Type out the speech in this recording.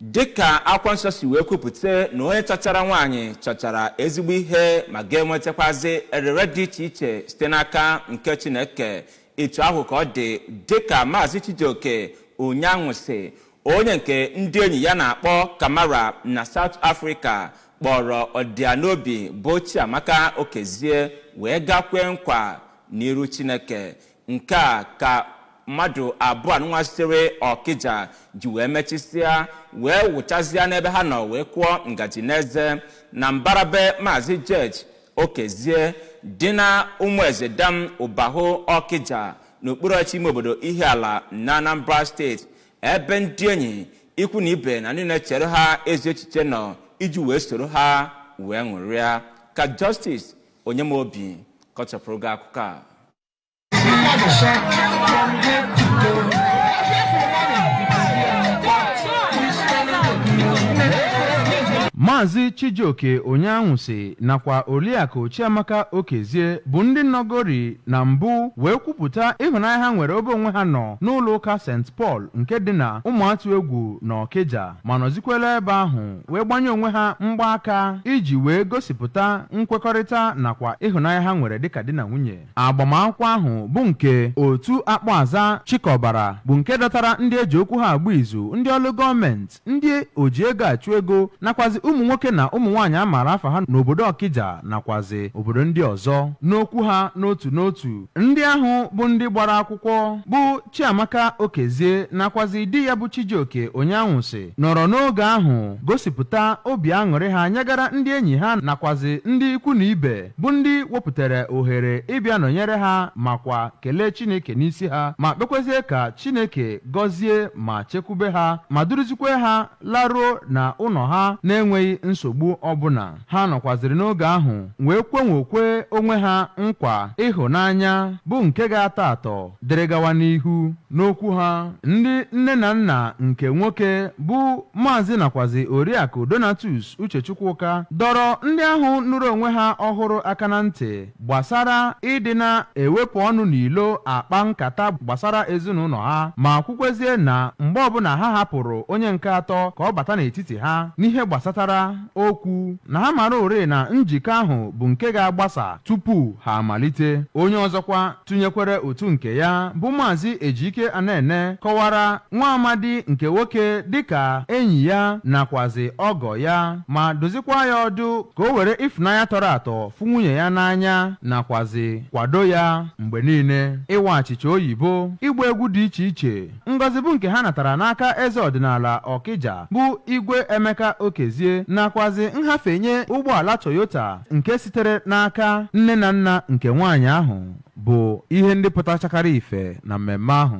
dịka akwụkwọ nsọ si wee kwupụta na onye chọchara nwaanyị chọchara ezigbo ihe ma ga-enwetakwazi erere dị iche iche site n'aka nke chineke etu ahụ ka ọ dị dịka maazị chijioke onyeanwụsị onye nke ndị enyi ya na-akpọ kamara na south africa kpọrọ ọdịanobi bụ chiamaka okezie wee gakwee nkwa n'iru chineke Nke a ka mmadụ abụọ anụnwa sitere Ọkịja ji wee mechisịa wee wụchazịa n'ebe ha nọ wee kụọ ngaji n'eze na mbara be Maazị George Okezie dị na Ụmụezedam Ụbahụ Ọkịja n'okpuru ọchịchị ime obodo Ihiala na Anambra steeti ebe ndị enyi ikwu na ibe na ndị na-echere ha ezi echiche nọ iji wee soro ha wee ṅụrịa ka Justice Onyemobi kọchapụrụ gị akụkọ a maazị chijioke onyeanwụsị nakwa oliakụ chiamaka okezie bụ ndị nọgori na mbụ wee kwupụta ịhụnanya ha nwere ebe onwe ha nọ n'ụlọ ụka st paul nke dị na ụmụatụegwu na ọkịja ma nọzikwere ebe ahụ wee gbanye onwe ha mgbaaka iji wee gosipụta nkwekọrịta nakwa ịhụnanya ha nwere dịka di na nwunye agbamakwụkwọ ahụ bụ nke otu akpọaza chịkọbara bụ nke dọtara ndị e ji okwu ha agba izu ndị ọrụ gọọmenti ndị oji ego achụ ego nakwazi ụmụ nwoke na ụmụ nwaanyị a maara afa ha n'obodo ọkịja nakwazi obodo ndị ọzọ n'okwu ha n'otu n'otu ndị ahụ bụ ndị gbara akwụkwọ bụ Chiamaka Okezie nakwazi di ya bụ Chijioke Onyeanwụsị nọrọ n'oge ahụ gosipụta obi aṅụrị ha nyegara ndị enyi ha nakwazi ndị ikwu na ibe bụ ndị wepụtara ohere ịbịa nọnyere ha makwa kelee Chineke n'isi ha ma kpekwezie ka Chineke gọzie ma chekwube ha ma duruzikwe ha laruo na ụlọ ha na-enweghị nsogbu ọbụla. Ha nọkwaziri n'oge ahụ wee kwenwokwe onwe ha nkwa ịhụnanya bụ nke ga-atọ atọ dịrị gawa n'ihu. N'okwu ha, ndị nne na nna nke nwoke bụ Maazị nakwazi Oriakụ Donatus Uche Chukwuka dọrọ ndị ahụ nụrụ onwe ha ọhụrụ aka na ntị gbasara ịdị na-ewepụ ọnụ n'ilo akpa nkata gbasara ezinụlọ ha ma kwukwezie na mgbe ọbụla ha hapụrụ onye nke atọ ka ọ bata n'etiti ha n'ihe gbasatara okwu na ha mara ore na njikọ ahụ bụ nke ga-agbasa tupu ha amalite onye ọzọkwa tụnyekwere ụtụ nke ya bụ maazị Ejike Anene kọwara nwa amadi nke nwoke dịka enyi ya nakwazi ọgọ ya ma dụzikwa ya ọdụ ka o were ịfụnanya tọrọ atọ fụ nwunye ya n'anya nakwazị kwado ya mgbe niile, ịwa achịcha oyibo, ịgba egwu dị iche iche. Ngọzi bụ nke ha natara n'aka eze ọdịnala Ọkịja bụ Igwe Emeka Okezie nakwazị nhafenye ụgbọala Toyota nke sitere n'aka nne na nna nke nwaanyị ahụ bụ ihe ndị pụtachakara ife na mmemme ahụ.